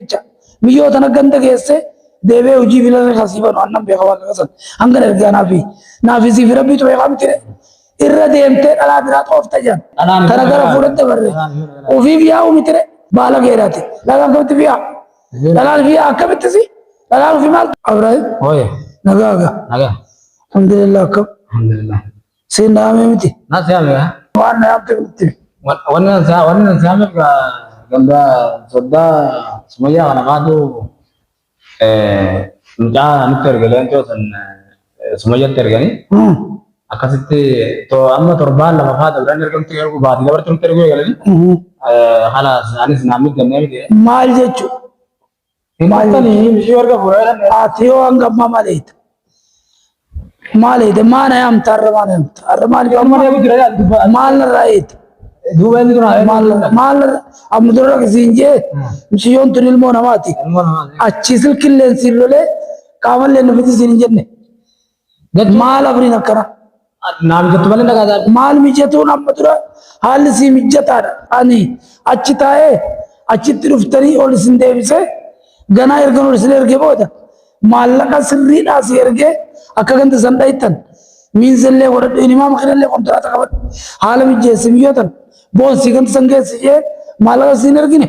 jecha biyyoo tana ganda geesse deebee hojii fi lafa kan siifanu annan beeka waaqa kasan hanga ergaa naaf fi naaf fi siif rabbii ture kan miti irra deemtee dhalaa biraa xoofta jedhan Dhalaan tana gara biraa- fuudhatte barre dhalaan yoo dhalaan- ofiif yaa'u miti re baala geeraati dhalaan akkamitti fiyaa dhalaan fiyaa akkamitti si dhalaan ofii maal Abraahim Oye, nagaa gaa naga. alhamdulillah akkam Alhamdulillah. Siin naamee miti. Na siyaame yaa. Waan na yaamte miti. Wanni na siyaa wanni na siyaame ganda soddaa sumayyaa kana kaatu mucaa nutti ergalee too san sumayyatti erganii akkasitti too amma torbaan lama faa dabran ergamti ergu baati dabarti nutti ergu eegalanii halas anis naamni gannee miti. Maal jechuun Maatanii bishii warga fuudhaa jedhan. Ati yoo hanga ammaa maal eeyta? Maal eeyta? Maana yaamta har'a maana yaamta? Har'a maal Yoo amma deemu jira jedhan dubbaa. maal narraa eeyta? Duuba inni kun haala. Maal maal amma dura siin jee misiyyoon tun ilmoo namaati. Ilmoo namaa. Achii silkilleen siin lolee qaamallee nufitti siin hin jenne. Maal abriin akkana? Naa mijattu malee na gaadaa. Maal mijatuun amma dura haalli sii mijataadha. Ani achi taa'ee achitti dhuftanii ol isin deebisee ganaa ergan ol isin erge booda maallaqa sirriidhaa si ergee akka ganda san dhayittan miinzillee godhadhu inimaama kanallee kontiraata qabadhu haala mijjeessi miyyootan boonsii ganda san geessi jee maallaqa siin ergine.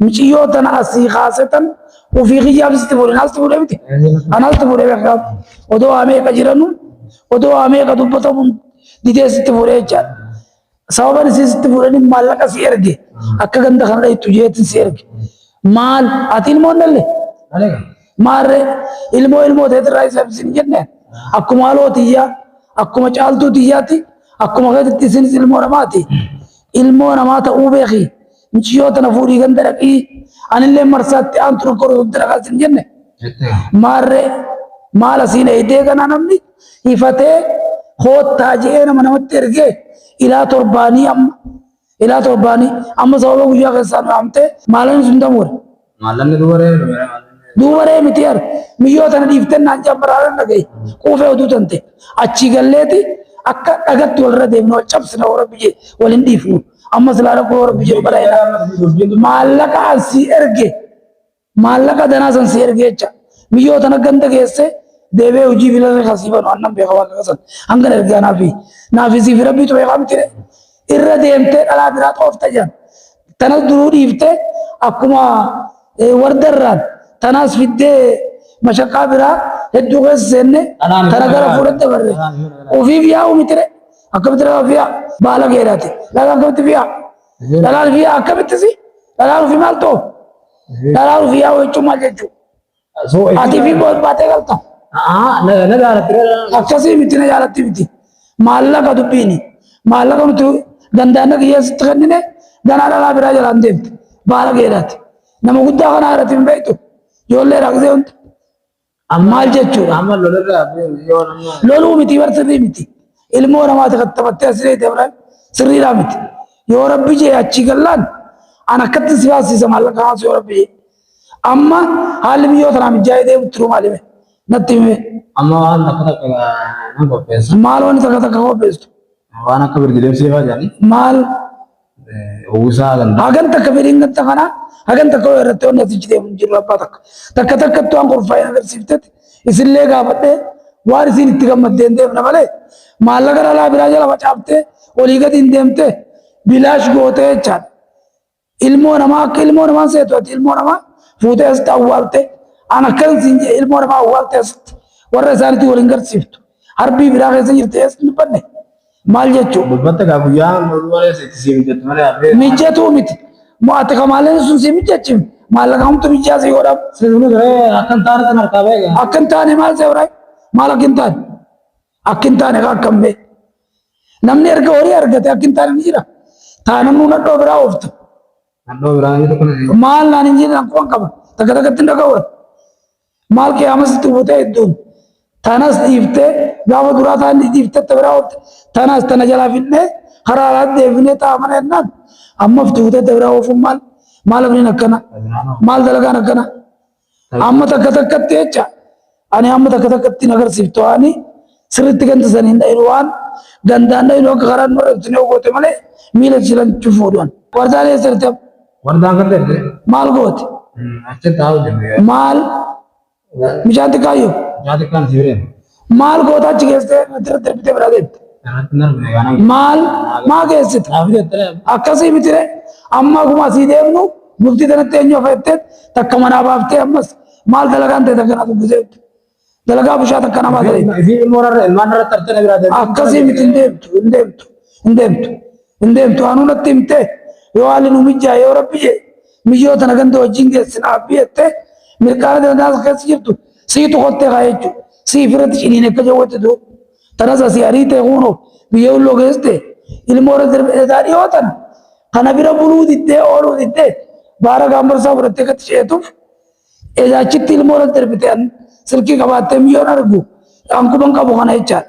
Miciyyoo tana asii kaasetan ofii kiyyaaf sitti fuudhe naalti fuudhe miti. Anaalti fuudhe beekaaf odoo waa meeqa jiranu odoo waa meeqa dubbatamu didee sitti fuudhe jechaadha. Sababan isii sitti fuudhanii maallaqa si erge akka ganda kana dhayittu jeetin si erge. Maal ati ilmoo nalle maarree ilmoo ilmoo teetirraa isa hin jenne akkuma haloo tiyyaa akkuma caaltuu tiyyaatti akkuma keetitti isinis ilmoo namaati. Ilmoo namaa ta'uu beekii. Muciyyoo tana fuudhii ganda dhaqii anillee marsaatti aantu rakkoo dhufte dhaqaa sin jenne. Maarree maala siin eeydee kanaa namni hifatee koottaa je'ee nama namatti ergee ilaa torbaanii amma ilaa torbaanii amma sababa guyyaa keessaa nu amtee maalan sun damuure. Maallanni dubaree dubaree maallanni. Dubaree miti yar miyyoo tana dhiifteen naan jammaraaran dhagaye quufee oduu tante achii galleeti akka dhagatti walirra deemnu wal cabsina warra biyye wal hin dhiifnu amma silaa rakkoo warra biyye bara maallaqa an sii erge maallaqa danaa san sii erge jecha miyyoo tana ganda geesse deebee hojii filarra kasiifanu annan beeka waaqa kasan hangan ergaa naafi naafi siifi rabbiitu beekaa miti irra deemtee dhalaa biraa xoofta jedhan. Tanas duruu dhiiftee akkuma wardarraan tanaas fiddee mashaqaa biraa hedduu keessa seenne tana gara fuudhatte barre. Ofiif yaa'u mitire akkamitti dhalaa ofiif yaa'u baala geedhaati. Dhalaa akkamitti fi yaa'u? Dhalaa ofiif yaa'u akkamittis dhalaa ofiif maal ta'u? Dhalaa ofiif yaa'u jechuun maal jechuudha? So, Ati fi boos baatee galta. Aa, na na jaalatti. Akkasii miti na jaalatti miti. Maallaqa dubbiini. Maallaqa nuti dandaanna kiyyeessitti kennine ganaa dhalaa biraa jalaan deemte. Baala keedhaati. Nama guddaa kanaa irratti hin beektu. Ijoollee rakkisee hundi. Maal jechuudha? Amma lolarraa yoo nama. Loluu miti bar sirrii miti. Ilmoo namaati kan taphattee as reete biraan sirriidhaa miti. Yoo rabbi jee achii gallaan an akkatti si baasisa maallaqa kaasu yoo rabbi jee. Amma haalli biyyoo tanaa mijaa'ee deemu turuu maali mee? Natti himi mee? Amma waan takka takka nan qopheessa. Maal wanti takka takka qopheessu? Waan akka birdi deemsee faa jedhanii. Maal? Uwwisaa ganda. Hagan takka fedhiin ganta kana hagan takka yoo irratti wanni asichi deemu hin jiru abbaa takka. Takka takkatti waan qophaa'e agarsiiftetti isinillee gaafadhee waan isin itti gammaddeen deemna malee maallaqa dhalaa biraa jala facaaftee olii gadi hin deemtee bilaash gootee jechaadha. Ilmoo namaa akka ilmoo namaan seetu ati ilmoo namaa fuutee asitti awwaaltee an akkan siin jedhe ilmoo namaa awwaaltee asitti warra isaanitti waliin garsiiftu harbii biraa keessa jirti eesni badde maal jechuu Dubbatti kaa guyyaa mormaa itti siin jettu malee hafee. mijjatuu miti moo ati kamaaleen sun si mijjachiif maallaqa hamtu mijjaa si godhaaf Sirni garee akkan taane kan harkaa beekaa. akka hin taane maal seeraa maal akka hin taane Akki hin taane kaa akkam bee. Namni erga horii argate akki hin taane ni jira. Taanannuu nadhoo biraa oofta. Nadhoo biraa ni tokko ni Maal naan hin jiran akkuma qaba. Takka takkatti hin dhaga'uura. Maal qiyaamas itti buutee hedduun. Tanas dhiiftee gaafa duraa taan dhiiftee ta biraa oofte. Tanas tana jalaa finnee karaa alaatti deebinee ta'a mana jennaan. Amma ftuutee ta biraa oofuun maal? Maal abdiin akkana? Maal dalagaan akkana? Amma takka takkatti jecha ani amma takka takkatti hin agarsiiftu ani sirriitti ganda sanii hin dhayin waan gandaan dhayin akka karaa hin marabsine yoo goote malee miila jiran cufuudhaan. Wardaan eessa jirti? Wardaan kan ta'e maal goote? Achi taa'u jennee. Maal? Mucaan xiqqaayyoo? Mucaan xiqqaan sibiireen. Maal goota achi keessee natti irratti darbitee biraa deemte? Maal maa geessite? Akkasii miti ree? Amma akkuma asii deemnu bultii sanatti eenyu hafa jettee takka manaa baaftee ammas maal dalagaan ta'e takka naa dubbisee dalagaa bushaa takka namaa ta'e. Akkasii miti hin deemtu hin deemtu hin deemtu hin deemtu anuu natti himtee yoo haalli nu mijjaa yoo rabbi jee Miyyoo tana ganda wajjin geessin aabbii jettee mirqaana tana daansa keessa jirtu siitu kottee kaa jechu siif irratti ciniin akka jawwatti tuu tanas asii ariitee kuunoo biyya ulloo geessite ilmoo irra darbe egaa dhiyoo tana kana bira buluu diddee ooluu diddee baara gaambarsaa fudhattee gatti ceetuuf egaa achitti ilmoo irra darbite silkii qabaattee miyyoon argu ankuman qabu kana jechaadha.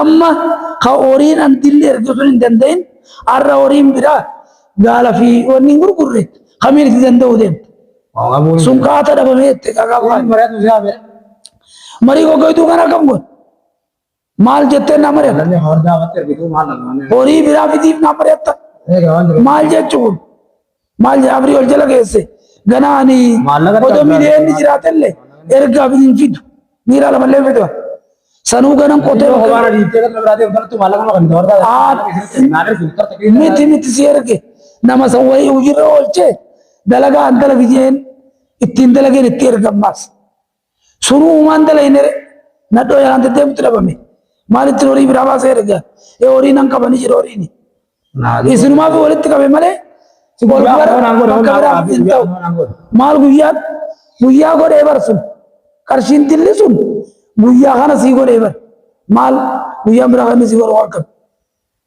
Amma ka horiin an dilli ergu sun hin danda'in har'a horiin biraa gaala fi wanni hin gurgurre kamiin itti danda'uu deemta. Sun kaata dhabamee itti qaqafaan. Marii goggoituu kan akkam godhu. Maal jettee na mari'atta? Horii biraa fidiif na mari'atta? Maal jechuun? Maal jedha abrii ol jala geesse ganaa ani Maallaqa odoo dhabdaa miidiyaan ni jiraatelle ergaaf hin fidu miiraa lamallee hin fidu sanuu ganan qotee Yoo bakka waan adii ta'e kan biraatiif galtu maallaqa kan ta'u ta'e. Aan Naan ergu tarta keessa. miti miti si erge nama san wayii hojiirra oolchee dalagaa an dalagi jeen ittiin dalageen itti ergammaas Suruu uumaan dalaynere nadhoo yaraan deddeemutti dhabame. Maalitti horii biraa baasee erga. Ee horii nan qaba ni jedha horiin. Isinumaa fi walitti qabe malee si ol Guyyaa bara kanaan godhe, bakka biraa guyyaa hin ta'u. kanaan godhe. Maal guyyaa guyyaa godhee bar sun qarshiin tilli sun guyyaa kana sii godhee bar maal guyyaan biraa kan inni sii godhu waan qabu.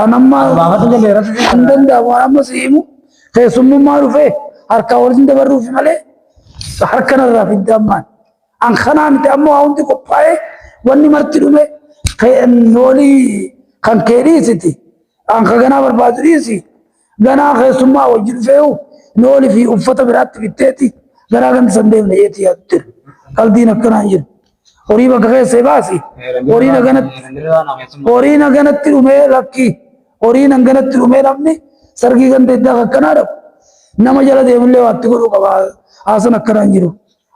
An amma Baafatu galee rafu jira. kan danda'amu waan amma si himu keessummummaa dhufee harkaa waliin dabarruufi malee harka narraa fidda ammaan. An kanaa miti amma waa hundi qophaa'ee wanni marti dhume kee- noolii kan kee dhiisiti. An ka ganaa barbaadu dhiisi. Ganaa keessummaa wajji dhufeeyu looni fi uffata biraatti bitteeti garaa gandi san deemne jeetii yaadu ture. Qaldiin akkanaan jiru. Horii bakka keessee baasi. Horii naganatti horii naganatti dhumee lakki. Horii naganatti dhumee namni sargii ganda iddaa akkanaa dhabu. Nama jala deemullee waatti godhuu qaba. Haasan akkanaan jiru.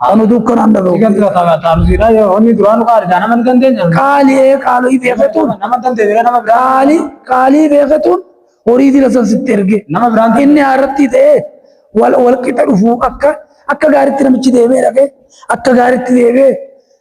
Kan utuu kan handa gahu. Ikan dura ta'a ta'a nuti dha yoo honni duraan qaali dha nama ni dandeenya. Qaali ee qaalii beekatuun. Nama dandeenya dha nama biraa. Qaali qaalii beekatuun horii dila san sitti erge. Nama biraan ta'e. Inni haaratti ta'ee wal wal qixa dhufu akka akka gaaritti namichi deemee dhaqee akka gaaritti deemee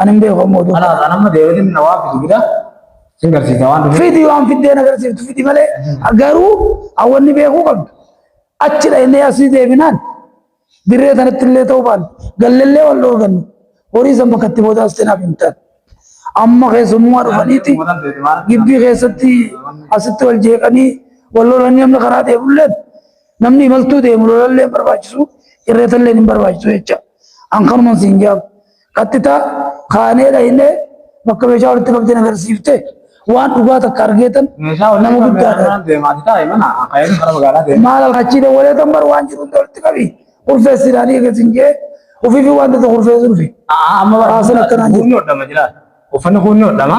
Ani hin beeku amma oduu. Kanaaf amma deebiin na waan fidu gida sin garsiisa waan dhufe. Fidi waan fiddeen agarsiiftu fidi malee garuu hawwanni beekuu qabdu. Achi dhaqnee asii deebinaan dirree tanatti illee ta'uu baanne gallallee wal dhorgannu horii san bakka itti booda as seenaaf hin taane. Amma keessummaa dhufaniiti gibbii keessatti asitti wal jeeqanii wal lolanii namni karaa deemullee namni imaltuu deemu lolallee hin barbaachisu irreetallee hin barbaachisu jecha. An kanuman siin jaabu. Qaxxitaa kaanee dhaynee bakka meeshaa walitti qabdeen agarsiifte waan dhugaa takka argeetan Meeshaa walitti nama qabdee guddaadha. kanaan deemaati taa'e mana akaayeen gara magaalaa deema. Maal halkachii dawwalee kan bar waan jiru hunda walitti qabi. Kurfeessi ilaalii egaa sin jee ofii fi waan tokko kurfeessu dhufe. Amma Haasan akkanaan jiru. kuunni hodhama jira. Uffanni kuunni hodhama.